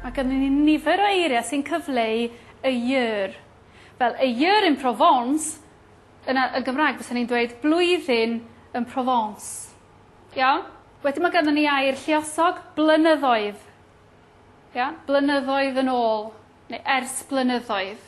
Mae gynnon ni nifer o eiriau sy'n cyfleu y year. Fel a year in Provence, yna yn Gymraeg bysa ni'n dweud blwyddyn yn Provence. Iawn? Wedyn mae gynnon ni air lliosog, blynyddoedd. Iawn? Blynyddoedd yn ôl, neu ers blynyddoedd.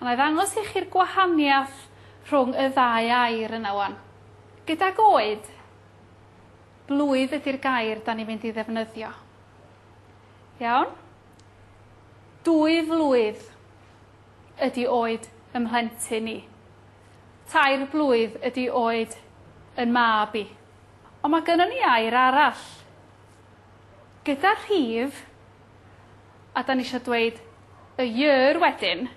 A na i ddangos i chi'r gwahaniaeth rhwng y ddau air yna 'wan. Gydag oed, blwydd ydy'r gair 'dan ni'n mynd i ddefnyddio. Iawn? Dwy flwydd ydy oed ym mhlentyn i. Tair blwydd ydy oed yn mab i. Ond mae gynnon ni air arall. Gyda rhif, A dan ni isio dweud a year wedyn.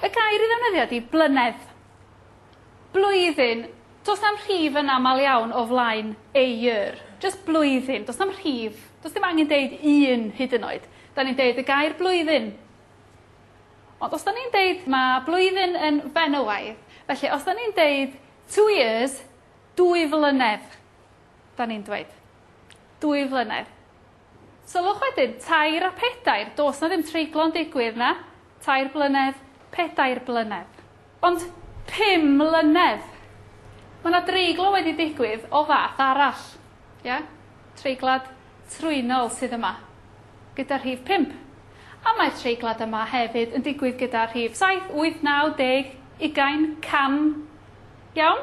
Y gair i ddefnyddio ydi blynedd. Blwyddyn, does na'm rhif yn aml iawn o flaen a year. Jyst blwyddyn, does na'm rhif, does dim angen deud un hyd yn oed. Dan ni'n deud y gair blwyddyn. Ond os dan ni'n deud mae blwyddyn yn fenywaidd, felly os dan ni'n deud two years, dwy flynedd, dan ni'n dweud. Dwy flynedd. Sylwch wedyn, tair a pedair, does 'na ddim treiglo yn digwydd, na? Tair blynedd, pedair blynedd. Ond pum mlynedd! Mae 'na dreiglo wedi digwydd o fath arall, ie? Treiglad trwynol sydd yma, gyda rhif pump. A mae'r treiglad yma hefyd yn digwydd gyda rhif saith, wyth, naw, deg, ugain, can, Iawn?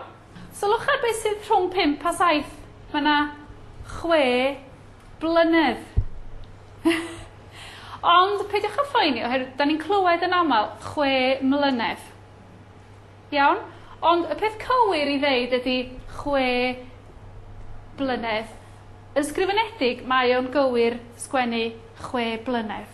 Sylwch ar beth sydd rhwng pump a saith. Mae yna chwe blynedd. Ond peidiwch â phoeni, oherwydd da ni'n clywed yn aml chwe mlynedd. Iawn? Ond y peth cywir i ddeud ydy chwe blynedd. Yn sgrifenedig, mae o'n gywir sgwennu chwe blynedd.